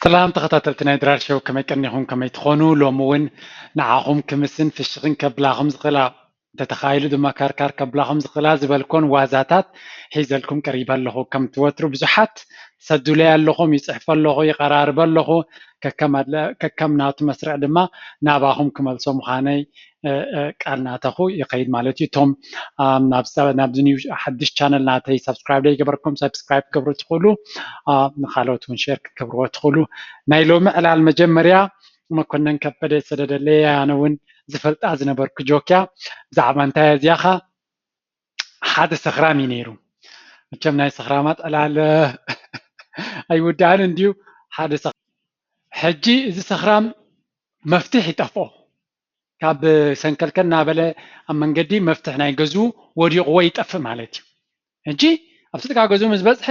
ሰላም ተኸታተልቲ ናይ ድራር ሸው ከመይ ቀኒኹም ከመይ ትኾኑ ሎሚ ውን ንዓኹም ክምስን ፍሽኽን ከብላኹም ዝኽእላ እንተተኻኢሉ ድማ ካርካር ከብላኹም ዝኽእላ ዝበልኮን ዋዛታት ሒዘልኩም ቀሪበ ኣለኹ ከምቲ ወትሩ ብዙሓት ትሰዱለይ ኣለኹም ይጽሕፈ ኣለኹ ይቐራርበ ኣለኹ ከከም ናቱ መስርዕ ድማ ናባኹም ክመልሶ ምዃነይ ቃል ናተኹ ይኸይድ ማለት እዩ እቶም ናብዚ ኒው ሓድሽ ቻነል ናተይ ሳብስክራይብ ዘይገበርኩም ሳብስክራይብ ክትገብሩ ትኽእሉ ንካልኦት እውን ሼር ክትገብርዎ ትኽእሉ ናይ ሎሚ ዕላል መጀመርያ መኮነን ከበደ ዝሰደደለይ ኣነ እውን ዝፈልጣ ዝነበርኩ ጆክያ ብዛዕባ እንታይ እዚኣኻ ሓደ ሰኽራም እዩ ነይሩ መቸም ናይ ሰኽራማት ዕላል ኣይውዳእን እንድዩ ሓደ ሕጂ እዚ ሰኽራም መፍትሕ ይጠፍኦ ካብ ሰንከልከል እናበለ ኣብ መንገዲ መፍትሕ ናይ ገዝኡ ወዲቕዎ ይጠፍእ ማለት እዩ ሕጂ ኣብቲ ጥቃ ገዝኡ ምስ በፅሐ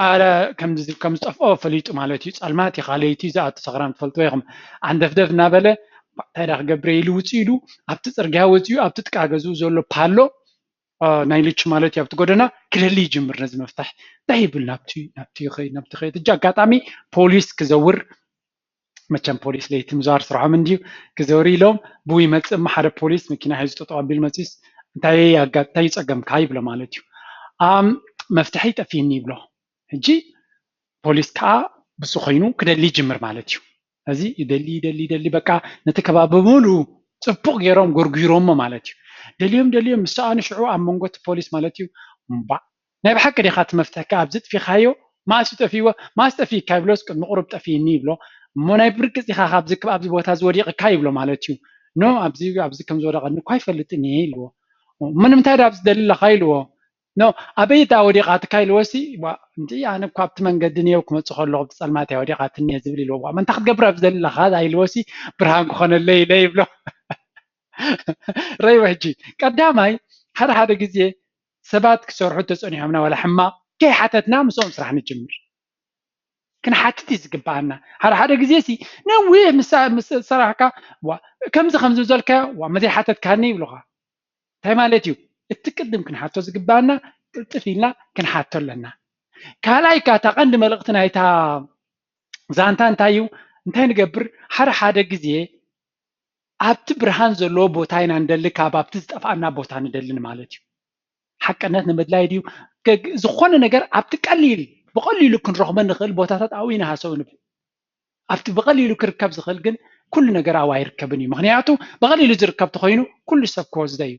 ኣረ ከም ዝጠፍኦ ፈሊጡ ማለት እዩ ፀልማት እዩ ካለይቲ እዩ ዝኣቱ ሰኽራም ትፈልጥዎ ኢኹም ዓንደፍደፍ እናበለ እንታይ ዳ ክገብረ ኢሉ ውፅእ ኢሉ ኣብቲ ፅርግያ ወፂኡ ኣብቲ ጥቃ ገዝኡ ዘሎ ፓሎ ናይ ልቹ ማለት እዩ ኣብቲ ጎደና ክደሊ ይጅምር ነዚ መፍታሕ እንታይ ይብል ናብቲ ናብቲ ይኸይድ ናብቲ ይኸይድ እጂ ኣጋጣሚ ፖሊስ ክዘውር መቸም ፖሊስ ለይቲ ምዛር ስርሖም እንድዩ ክዘውሪ ኢሎም ብኡ ይመፅእ እሞ ሓደ ፖሊስ መኪና ሒዙ ጠጠው ኣቢሉ መፂኡስ እንታይ ኣጋ እንታይ እዩ ፀገምካ ይብሎ ማለት እዩ ኣም መፍትሐይ ጠፊእኒ ይብሎ ሕጂ ፖሊስ ከዓ ብሱ ኮይኑ ክደሊ ይጅምር ማለት እዩ እዚ ይደሊ ይደሊ ይደሊ በቃ ነቲ ከባቢ ብምሉ ፅቡቅ ገይሮም ጎርጒሮሞ ማለት እዩ ደልዮም ደልዮም ምስ ሰኣኑ ሽዑ ኣብ መንጎ እቲ ፖሊስ ማለት እዩ እምቧእ ናይ ብሓቂ ዲኻ እቲ መፍትሒ ከኣ ኣብዚ ኣጥፊካዮ መኣስ ዩ ጠፊእዎ መኣስ ጠፊእካ ይብሎስ ቅድሚ ቁሩብ ጠፊእኒ ይብሎ እሞ ናይ ብርግጽ ኢኻ ካብዚ ክብ ኣብዚ ቦታ እዚ ወዲቅካ ይብሎ ማለት ዩ ን ኣብዚ ኣብዚ ከም ዝወደቀኒ እኮ ኣይፈልጥን እየ ኢልዎ እሞ ንምንታይ ድኣ ኣብዚ ትደሊ ኣለኻ ኢልዎ ን ኣበይ ድኣ ወዲቃትካ ኢልዎሲ ዋእ ኣነ እኮ ኣብቲ መንገዲ ኔው ክመጽእ ከለኹ ኣብቲ ጸልማት እያ ወዲቃትኒ እየ ዝብል ኢልዎ ዋእ እንታይ ክትገብር ኣብዚ ትደሊ ኣለኻ ኢልዎሲ ብርሃን ክኾነለይ ኢለ ይብሎ ረይዎ ሕጂ ቀዳማይ ሓደ ሓደ ግዜ ሰባት ክሰርሑ ተጸኒሖምና ዋላ ሕማቕ ከይሓተትና ምስኦም ስራሕ ንጅምር ክንሓትት እዩ ዝግብኣና ሓደ ሓደ ግዜ ሲ ነዊሕ ምስ ሰራሕካ ዋ ከምዚ ከምዚ ዘልካዮ ዋ መዘይሓተትካኒ ይብሉኻ እንታይ ማለት እዩ እቲ ቅድም ክንሓቶ ዝግብኣና ቅልጥፍ ኢልና ክንሓቶ ኣለና ካልኣይ ከኣ እታ ቀንዲ መልእኽቲ ናይታ ዛንታ እንታይ እዩ እንታይ ንገብር ሓደ ሓደ ግዜ ኣብቲ ብርሃን ዘለዎ ቦታ ኢና ንደሊ ካብ ኣብቲ ዝጠፍኣና ቦታ ንደሊ ማለት እዩ። ሓቅነት ንምድላይ ድዩ ገግ- ዝኾነ ነገር ኣብቲ ቀሊል ብቐሊሉ ክንረኽቦ ንኽእል ቦታታት ኣብኡ ኢና ሃሰው ንብል ኣብቲ ብቐሊሉ ክርከብ ዝኽእል ግን ኩሉ ነገር ኣብኡ ኣይርከብን እዩ ምክንያቱ ብቐሊሉ ዝርከብ ተኾይኑ ኩሉ ሰብ ክወስዶ እዩ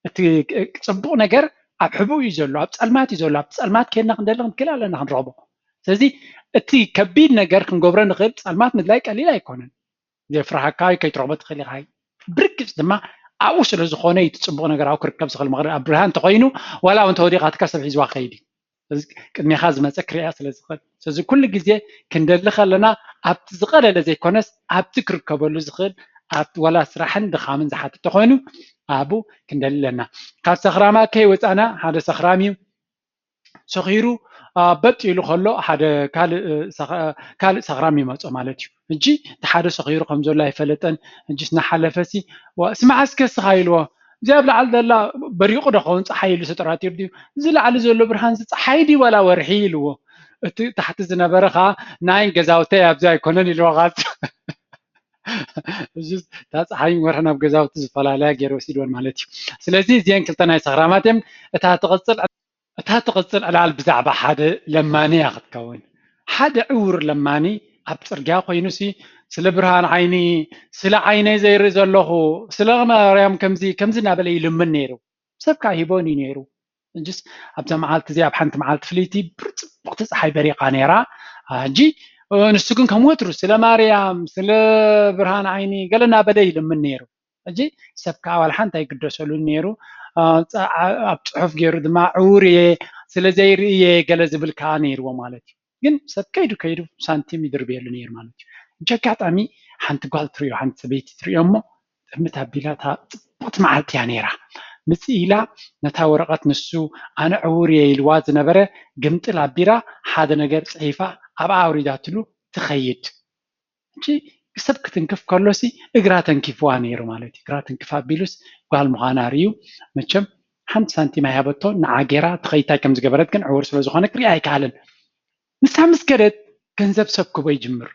እቲ እ- ፅቡቕ ነገር ኣብ ሕብኡ እዩ ዘሎ ኣብ ፀልማት እዩ ዘሎ ኣብቲ ፀልማት ኬድና ክንደሊ ክንክእል ኣለና ክንረኽቦ ስለዚ እቲ ከቢድ ነገር ክንገብሮ ንኽእል ፀልማት ምድላይ ቀሊል ኣይኮነን ዘፍርሓካዩ ከይትረኽቦ ትኽእል ኢኻ ብርግጽ ድማ ኣብኡ ስለ ዝኾነ እዩ ትጽቡቕ ነገር ኣብኡ ክርከብ ዝኽእል ምኽሪ ኣብ ብርሃን እንተኾይኑ ዋላ እውን ተወዲቓ ትካ ሰብ ሒዝዋ ክኸይድ እዩ ስለዚ ቅድሜኻ ዝመፀ ክርያ ስለ ዝኽእል ስለዚ ኩሉ ግዜ ክንደሊ ከለና ኣብቲ ዝቐለለ ዘይኮነስ ኣብቲ ክርከበሉ ዝኽእል ኣብቲ ዋላ ስራሕን ድኻምን ዝሓትት ተኾይኑ ኣብኡ ክንደሊ ኣለና ካብ ሰኽራማ ከይወፃና ሓደ ሰኽራም እዩ ሰኺሩ በጥ ኢሉ ከሎ ሓደ ካልእ ሰኽራም ይመፆ ማለት እዩ ሕጂ እቲ ሓደ ሰኺሩ ከም ዘሎ ኣይፈለጠን ሕጂስ እናሓለፈሲ ዋእስ መዓስ ከ እስኻ ኢልዎ እዚኣ ኣብ ላዕሊ ዘላ በሪቑ ዶ ኸውን ፀሓይ ኢሉ ተጠራጢሩ ድዩ እዚ ላዕሊ ዘሎ ብርሃንሲ ፀሓይ ድዩ ዋላ ወርሒ ኢልዎ እቲ ታሕቲ ዝነበረ ከዓ ናይ ገዛውተይ ኣብዚ ኣይኮነን ኢልዎ ከዓ ሕጂስ እታ ፀሓይን ወርሕን ኣብ ገዛውቲ ዝፈላለያ ገይሩ ወሲድወን ማለት እዩ ስለዚ እዚአን ክልተ ናይ ሰኽራማት እየን እታ ትቕፅል እታ ትቕጽል ዕላል ብዛዕባ ሓደ ለማኒ እያ ኽትከውን። ሓደ ዕዉር ለማኒ ኣብ ጽርግያ ዀይኑሲ፣ ስለ ብርሃን ዓይኒ፣ ስለ ዓይነይ ዘይርኢ ዘሎኹ፣ ስለ ማርያም ከምዚ ከምዚ እናበለ ይልምን ነይሩ። ሰብ ከኣ ይህቦን እዩ ነይሩ። ሕጅስ ኣብዛ መዓልቲ እዚኣ ኣብ ሓንቲ መዓልቲ ፍልይቲ ጽብቕቲ ጸሓይ በሪቓ ነይራ። ሕጂ ንሱ ግን ከም ወትሩ ስለ ማርያም፣ ስለ ብርሃን ዓይኒ ገለ እናበለ ይልምን ነይሩ። ሕጂ ሰብ ከኣ ዋላ ሓንቲ ኣይግደሰሉን ነይሩ። ኣብ ጽሑፍ ገይሩ ድማ ዕዉር እየ ስለዘይርኢ እየ ገለ ዝብል ከኣ ነይርዎ ማለት እዩ። ግን ሰብ ከይዱ ከይዱ ሳንቲም ይድርብየሉ ነይሩ ማለት እዩ። ሕጂ ኣጋጣሚ ሓንቲ ጓል ትርእዮ ሓንቲ ሰበይቲ ትርእዮ እሞ ጥምት ኣቢላ እታ ጽብቕቲ መዓልቲ እያ ነይራ ምጽእ ኢላ ነታ ወረቐት ንሱ ኣነ ዕዉር እየ ኢልዋ ዝነበረ ግምጥል ኣቢላ ሓደ ነገር ጽሒፋ ኣብኣ ኣውሪዳትሉ ትኸይድ። ሕጂ ክሰብ ክትንክፍ ከሎሲ እግራ ተንኪፍዋ ኔሩ ማለት እዩ እግራ ትንክፍ ኣቢሉስ ጋል ምዃና ሪኡ መቸም ሓንቲ ሳንቲም ኣይሃበቶን ንዓ ጌራ እቲ ከይታይ ከም ዝገበረት ግን ዕዉር ስለ ዝኾነ ክሪኣ ኣይክኣለን ንሳ ምስ ከደት ገንዘብ ሰብ ክህቦ ይጅምር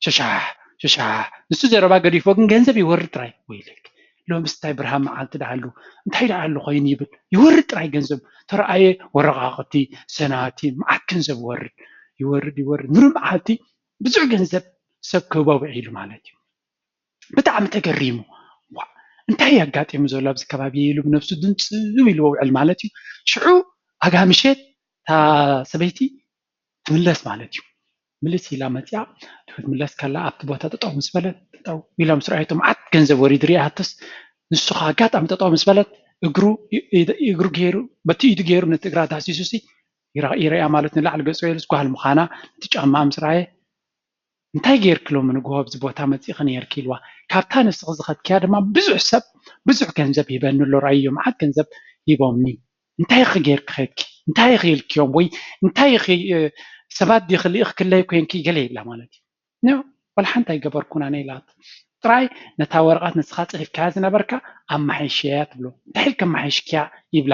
ሸሻሕ ሸሻሕ ንሱ ዘረባ ገዲፍዎ ግን ገንዘብ ይወርድ ጥራይ ወይለኪ ሎምስ እንታይ ብርሃን መዓልቲ ደኣ ኣሉ እንታይ ደኣ ኣሉ ኮይኑ ይብል ይወርድ ጥራይ ገንዘብ ተረኣየ ወረቃቅቲ ሰናቲም መዓት ገንዘብ ይወርድ ይወርድ ይወርድ ምሉእ መዓልቲ ብዙሕ ገንዘብ ሰብ ክህቦ ውዒሉ ማለት እዩ። ብጣዕሚ ተገሪሙ ዋእ እንታይ እዩ ኣጋጢሙ ዘሎ ኣብዚ ከባቢ ኢሉ ብነብሱ ድንፅው ኢሉ ውዕል ማለት እዩ። ሽዑ ኣጋ ምሸት እታ ሰበይቲ ትምለስ ማለት እዩ። ምልስ ኢላ መፂኣ ክትምለስ ከላ ኣብቲ ቦታ ጠጠው ምስ በለት ጠጠው ኢላ ምስ ረኣየቶ መዓት ገንዘብ ወሪዱ ሪኣቶስ ንሱ ከዓ ኣጋጣሚ ጠጠው ምስ በለት እግሩ እግሩ ገይሩ በቲ ኢዱ ገይሩ ነቲ እግራ ዳህሲሱሲ ይርኣ ማለት ንላዕሊ ገጹ ገይሩስ ጓል ምዃና ነቲ ጫማኣ ምስ ረኣየ እንታይ ጌርኪ ሎሚ ንግሆ ኣብዚ ቦታ መጺእኺ ኔርኪ ኢልዋ ካብታ ንስኺ ዝኸድክያ ድማ ብዙሕ ሰብ ብዙሕ ገንዘብ ሂበኒ ኣሎ ረኣይዮ መዓት ገንዘብ ሂቦምኒ እንታይ ኢኺ ጌርኪ ኬድኪ እንታይ ኢኺ ኢልክዮም ወይ እንታይ ኢኺ ሰባት ዲኺ ልኢኽክለይ ኮንኪ ገለ ይብላ ማለት እዩ ን ዋላ ሓንቲ ኣይገበርኩን ኣነ ኢላቶ ጥራይ ነታ ወረቐት ንስኻ ጽሒፍካያ ዝነበርካ ኣመሓይሸያ ትብሎ እንታይ ኢልኪ ኣመሓይሽክያ ይብላ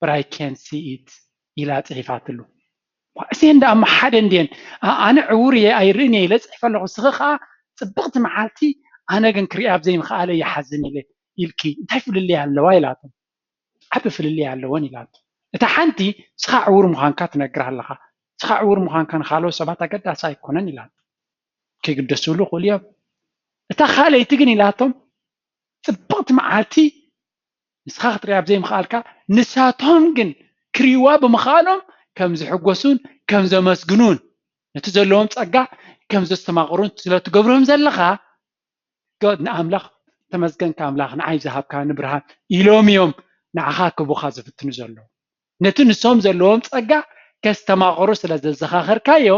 በት ኣይ ካንት ሲ ኢት ኢላ ጽሒፋትሉ። እኳ እዚኤን ደኣ እሞ ሓደ እንድየን። ኣነ ዕዉር እየ ኣይርእን እየ ኢለ ጽሒፈ ኣለኹ፣ ንስኺ ከኣ ጽብቕቲ መዓልቲ ኣነ ግን ክርእያ ብ ዘይምኽኣለይ ይሓዝን ኢለ ኢልኪ እንታይ ፍልልይ ኣለዋ ኢላቶ። ዓቢ ፍልልይ ኣለወን ኢላቶ። እታ ሓንቲ ንስኻ ዕዉር ምዃንካ ትነግራ ኣለኻ፣ ንስኻ ዕዉር ምዃንካ ንኻልኦት ሰባት ኣገዳሲ ኣይኮነን ኢላቶ። ከይግደስሉ ይኽእሉ እዮም። እታ ካልኣይቲ ግን ኢላቶ ጽብቕቲ መዓልቲ ንስኻ ክትርእያ ብዘይምኽኣልካ፣ ንሳቶም ግን ክርእይዋ ብምኽኣሎም ከም ዝሕጐሱን ከም ዘመስግኑን ነቲ ዘለዎም ጸጋ ከም ዘስተማቕሩን ስለ እትገብሮም ዘለኻ፣ ንኣምላኽ ተመስገንካ ኣምላኽ ንዓይ ዝሃብካኒ ብርሃን ኢሎም እዮም ንዓኻ ክህቡኻ ዝፍትኑ ዘለዉ። ነቲ ንሶም ዘለዎም ጸጋ ከስተማቕሩ ስለ ዘዘኻኸርካዮ፣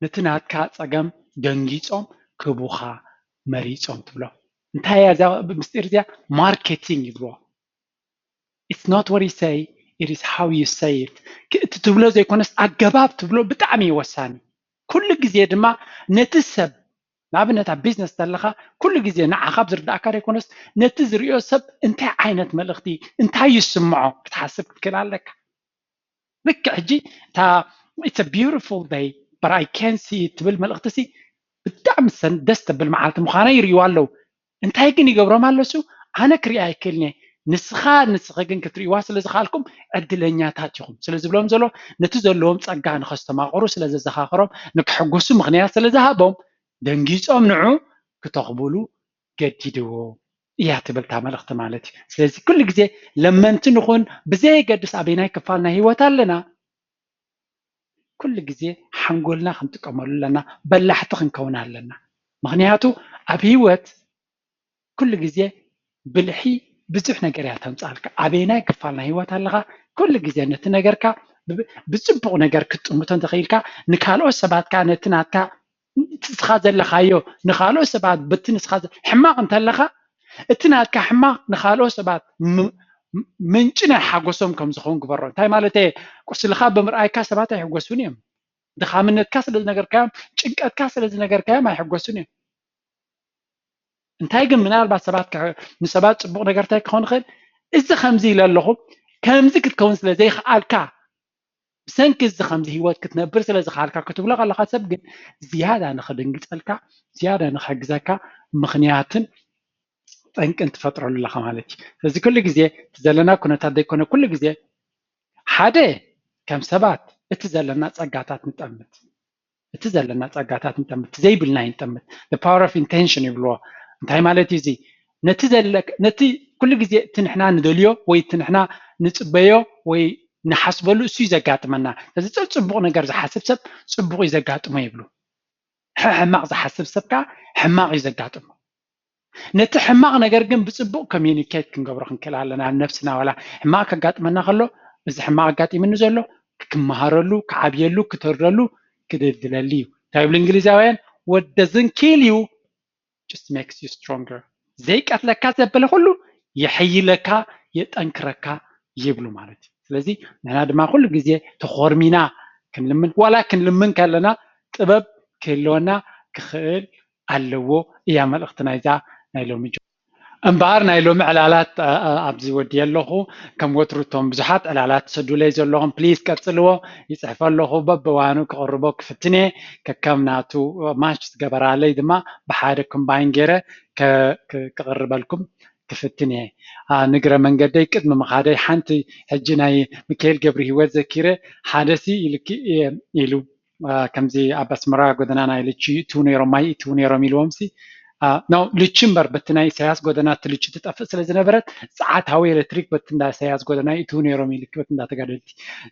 ነቲ ናትካ ፀገም ደንጊፆም ክህቡኻ መሪፆም ትብሎም እንታይ እያ እዛ ምስጢር እዚኣ ማርኬቲንግ ይብልዋ ኢትስ ኖት ዋት ዩ ሰይ ኢት ኢዝ ሃው ዩ ሰይ ኢት እቲ ትብሎ ዘይኮነስ ኣገባብ ትብሎ ብጣዕሚ እዩ ወሳኒ ኩሉ ግዜ ድማ ነቲ ሰብ ንኣብነት ኣብ ቢዝነስ እንተለኻ ኩሉ ግዜ ንዓኻ ኣብ ዝርድኣካ ዘይኮነስ ነቲ ዝሪኦ ሰብ እንታይ ዓይነት መልእኽቲ እንታይ ይስምዖ ክትሓስብ ክትክእል ኣለካ ልክዕ ሕጂ እታ ኢትስ አ ቢዩቲፉል ደይ በት ኣይ ካንት ሲ ኢት ትብል መልእኽቲሲ ብጣዕሚ ደስ ተብል መዓልቲ ምዃና ይርእይዋ ኣለዉ። እንታይ ግን ይገብሮም ኣሎሱ ኣነ ክሪኣ ኣይክእልን እየ ንስኻ ንስኺ ግን ክትርእይዋ ስለ ዝኸኣልኩም ዕድለኛታት ኢኹም ስለ ዝብሎም ዘሎ ነቲ ዘለዎም ጸጋ ንኸስተማቕሩ ስለ ዘዘኻኸሮም ንክሕጎሱ ምኽንያት ስለ ዝሃቦም ደንጊጾም ንዑ ክተኽብሉ ገዲድዎ እያ ትብል እታ መልእኽቲ ማለት እዩ። ስለዚ ኩሉ ግዜ ለመንቲ ንኹን ብዘየገድስ ኣበየናይ ክፋል ናይ ህይወት ኣለና ኩሉ ግዜ ሓንጎልና ክንጥቀመሉ ኣለና፣ በላሕቲ ክንከውን ኣለና። ምክንያቱ ኣብ ህይወት ኩሉ ግዜ ብልሒ ብዙሕ ነገር እያ ተምፃልካ ኣበየናይ ክፋል ናይ ህይወት ኣለኻ ኩሉ ግዜ ነቲ ነገርካ ብፅቡቅ ነገር ክትጥምቶ እንተኽኢልካ ንካልኦት ሰባት ከዓ ነቲ ናትካ ንስኻ ዘለኻዮ ንካልኦት ሰባት በቲ ንስኻ ሕማቕ እንተለካ እቲ ናትካ ሕማቕ ንካልኦት ሰባት ምንጪ ናይ ሓጎሶም ከም ዝኸውን ግበሮ እንታይ ማለት እየ ቁስልኻ ብምርኣይካ ሰባት ኣይሕጎሱን እዮም ድኻምነትካ ስለ ዝነገርካዮም ጭንቀትካ ስለ ዝነገርካዮም ኣይሕጎሱን እዮም እንታይ ግን ምናልባት ሰባት ንሰባት ፅቡቕ ነገር እንታይ ክኸውን ይኽእል እዚ ከምዚ ኢለ ኣለኹ ከምዚ ክትከውን ስለ ዘይክኣልካ ብሰንኪ እዚ ከምዚ ሂወት ክትነብር ስለ ዝኸኣልካ ክትብሎ ከለኻ ሰብ ግን ዝያዳ ንኽድንግጸልካ ዝያዳ ንኽሕግዘካ ምኽንያትን ጠንቅን ትፈጥረሉ ኣለኻ ማለት እዩ ስለዚ ኩሉ ግዜ እቲ ዘለና ኩነታት ዘይኮነ ኩሉ ግዜ ሓደ ከም ሰባት እቲ ዘለና ጸጋታት ንጠምት ብቲ ዘለና ጸጋታት ንጠምት፣ ብቲ ዘይብልና ኣይንጠምት፣ the power of intention ይብልዎ። እንታይ ማለት እዩ እዚ? ነቲ ዘለ ነቲ ኩሉ ግዜ እቲ ንሕና ንደልዮ ወይ እቲ ንሕና ንጽበዮ ወይ ንሓስበሉ እሱ እዩ ዘጋጥመና። ስለዚ ጸጽቡቕ ነገር ዝሓስብ ሰብ ጽቡቕ እዩ ዘጋጥሞ ይብሉ። ሕሕማቕ ዝሓስብ ሰብ ከኣ ሕማቕ እዩ ዘጋጥሞ። ነቲ ሕማቕ ነገር ግን ብጽቡቕ ኮሚዩኒኬት ክንገብሮ ክንክእል ኣለና ነብስና ዋላ ሕማቕ ከጋጥመና ከሎ እዚ ሕማቕ ኣጋጢምኒ ዘሎ ክመሃረሉ ክዓብየሉ ክተርደሉ ክድልድለሉ እዩ እንታይ ይብሉ እንግሊዛውያን what doesn't kill you just makes you stronger ዘይቀትለካ ዘበለ ኩሉ የሐይለካ የጠንክረካ ይብሉ ማለት እዩ ስለዚ ንሕና ድማ ኩሉ ግዜ ተኾርሚና ክንልምን ዋላ ክንልምን ከለና ጥበብ ክህልወና ክኽእል ኣለዎ እያ መልእኽቲ ናይዛ ናይ ሎሚ ጆርጆ። እምበኣር ናይ ሎሚ ዕላላት ኣብዚ ወድየ ኣለኹ። ከም ወትሩ እቶም ብዙሓት ዕላላት ትሰዱለይ ዘለኹም please ቀጽልዎ። ይጽሕፍ ኣለኹ በብእዋኑ ክቕርቦ ክፍትን እየ። ከከም ናቱ match ዝገበራለይ ድማ ብሓደ combine ገይረ ክቕርበልኩም ክፍትን እየ። ንግረ መንገደይ ቅድሚ ምኻደይ ሓንቲ ሕጂ ናይ ምኪኤል ገብርሂወት ዘኪረ ሓደሲ ኢሉኪ እየ ኢሉ። ከምዚ ኣብ ኣስመራ ጎደና ናይ ልቺ ይእትዉ ነይሮም ማይ ይእትዉ ነይሮም ኢልዎም ሲ ናው ልቺ እምበር በቲ ናይ ኢሳያስ ጎደና እቲ ልቺ ትጠፍእ ስለ ዝነበረት ፀዓት ሃዊ ኤሌክትሪክ በቲ እንዳ ኢሳያስ ጎደና ይእትዉ ነይሮም ኢልኪ በቲ እንዳ ተጋደልቲ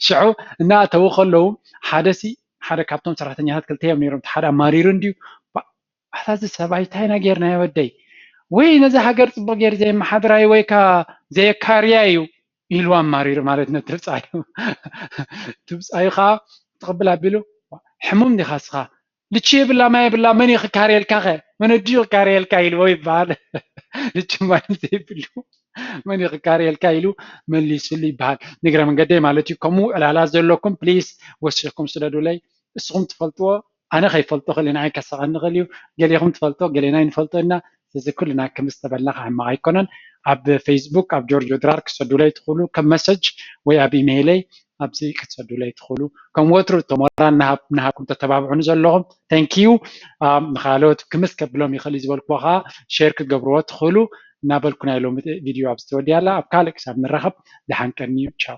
ሽዑ እናእተዉ ከለዉ ሓደ ሲ ሓደ ካብቶም ሰራሕተኛታት ክልተ እዮም ነይሮም እቲ ሓደ ኣማሪሩ እንድዩ ኣታ እዚ ሰብኣይ እንታይ ኢና ጌርናዮ ወደይ ወይ ነዛ ሃገር ጽቡቕ ጌሩ ዘየመሓድራዩ ወይ ከኣ ዘየካርያ እዩ ኢሉ ኣማሪሩ ማለት ነቲ ብጻዩ እቲ ብጻዩ ከኣ ትቕብል ኣቢሉ ሕሙም ዲኻ እስኻ ልቺ የብላ ማይ የብላ መን እዩ ክካርየልካ ከ መን ኣዲኡ ክካርየልካ ኢልዎ ይበሃል ልቺ ማይ ዘይብሉ መን እዩ ክካርየልካ ኢሉ መሊሱሉ ይበሃል ንግረ መንገደይ ማለት እዩ ከምኡ ዕላላ ዘለኩም ፕሊስ ወሲኽኩም ስደዱለይ እስኹም ትፈልጥዎ ኣነ ከይፈልጦ ክእል ንዓይ ከስቀኒ ይክእል እዩ ገሌኩም ትፈልጦ ገሌና ኣይንፈልጦ እና ስለዚ ኩልና ክምዚ ዝተበልናካ ሕማቅ ኣይኮነን ኣብ ፈይስቡክ ኣብ ጆርጆ ድራር ክትሰዱለይ ትክእሉ ከም መሰጅ ወይ ኣብ ኢመይለይ ኣብዚ ክትሰዱለይ ትክእሉ ከም ወትሩ እቶ ሞራል ናሃብኩም ተተባብዑኒ ዘለኩም ተንኪዩ ንካልኦት ክምስ ከብሎም ይክእል እዩ ዝበልክዎ ከኣ ሼር ክትገብርዎ ትክእሉ እናበልኩ ናይ ሎሚ ቪድዮ ኣብዚ ተወዲኣ ኣላ ኣብ ካልእ ክሳብ ንራከብ ደሓን ቀንዩ ቻው።